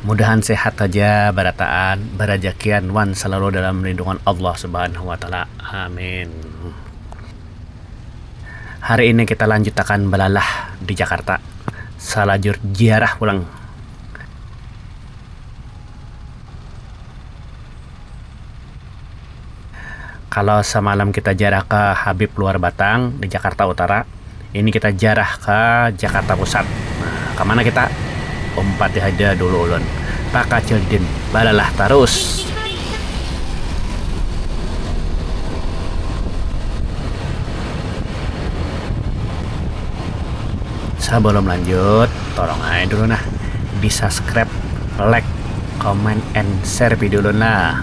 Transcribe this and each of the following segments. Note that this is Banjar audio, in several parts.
Mudahan sehat haja barataan, barajakian wan salalu dalam lindungan Allah Subhanahu wa taala. Amin. Hari ini kita lanjutakan balalah di Jakarta salajur ziarah pulang. Kalo samalam kita jarah ka Habib luar Batang di Jakarta Utara, ini kita jarah ka Jakarta Pusat. Nah, ka mana kita? Umpati haja dulu ulun. Takacil Didin, balalah tarus! Sabalum lanjut, tolong ai dulu nah di subscribe, like, comment, and share video ulun lah.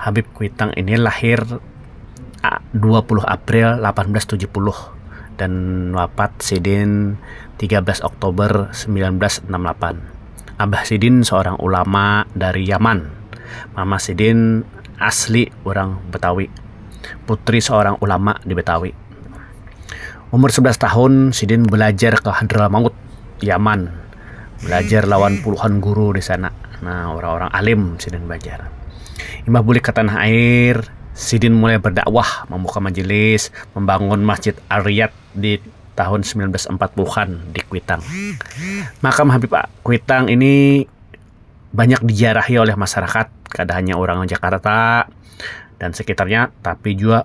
Habib Kuitang ini lahir dua puluh April lapan belas tujuh puluh dan wapat sidin tiga belas Oktober samilan belas anam lapan. Abah sidin seorang ulama dari Yaman. Mama sidin asli urang Betawi. Putri seorang ulama di Betawi. Umur sebelas tahun sidin balajar ka Hadramaut, Yaman. balajar lawan puluhan guru di sana. Nah, orang-orang alim sidin balajar. Imbah bulik ka tanah air, sidin mulai berdakwah, membuka majelis, membangun Masjid Al-Riyad di tahun sembilan belas empat puluh an di Kuitang. Makam Habib Kuitang ini banyak diziarahi oleh masyarakat, kada hanya urang Jakarta dan sekitarnya, tapi jua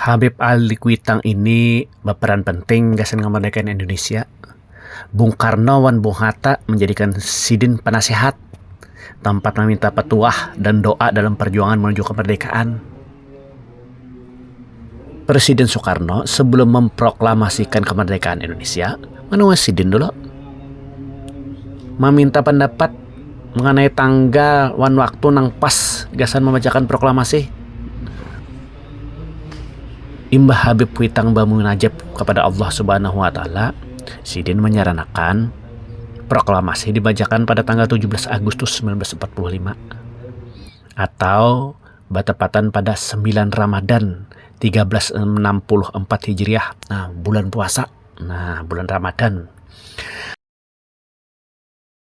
Habib Ali Kuitang ini baparan penting gasan kamardikaan Indonesia. Bung Karno wan Bung Hatta manjadikan sidin panasihat, tampat maminta patuah dan doa dalam parjuangan manuju kamardikaan. Presiden Soekarno sebelum memproklamasikan kamardikaan Indonesia, mana wan sidin dulu maminta pandapat. mengenai tanggal wan waktu nang pas gasan mambacakan proklamasi. Imbah Habib Kuitang bamunajat kapada Allah Subhanahu Wa Taala, sidin manyaranakan proklamasi dibacakan pada tanggal 17 Agustus 1945 atau batepatan pada 9 Ramadan 1364 Hijriah, nah bulan puasa, nah bulan Ramadan.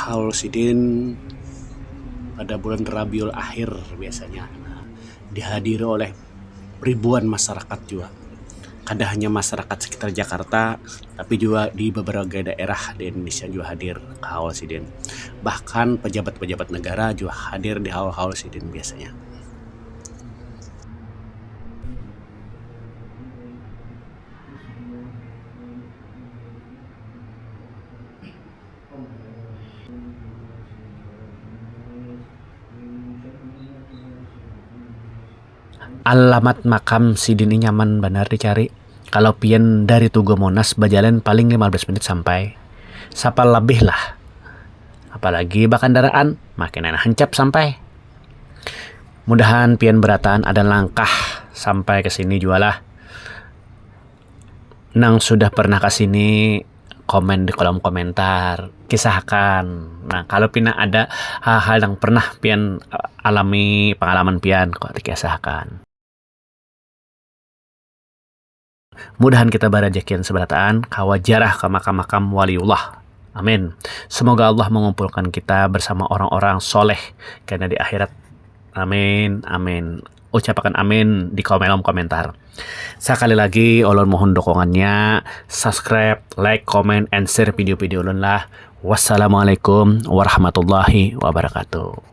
Haul sidin pada bulan Rabiul Akhir biasanya dihadiri oleh ribuan masyarakat jua kada hanya masyarakat sekitar Jakarta tapi jua di beberapa daerah di Indonesia jua hadir ka haul sidin bahkan pejabat-pejabat negara jua hadir di haul-haul sidin biasanya. Alamat makam sidin ni nyaman banar dicari, kalo pian dari tugu monas bajalan paling lima belas minit sampai, sapal labih lah, apalagi bakandaraan makinan hancap sampai. Mudahan pian berataan ada langkah sampai ke sini jua lah. Nang sudah pernah ke sini komen di kolom komentar, kisah akan. Nah, kalau pina ada hal-hal yang pernah pian alami pengalaman pian kok dikisah akan. Mudahan kita barajakian sabarataan kawa jarah ka makam-makam waliullah. Amin. Semoga Allah mengumpulkan kita bersama orang-orang soleh kena di akhirat. Amin. Amin. Ucapakan amin di komelom komentar. Sakali lagi ulun mohon dukungannya, subscribe, like, comment, and share video-video ulun lah. Wassalamualaikum warahmatullahi wabarakatuh.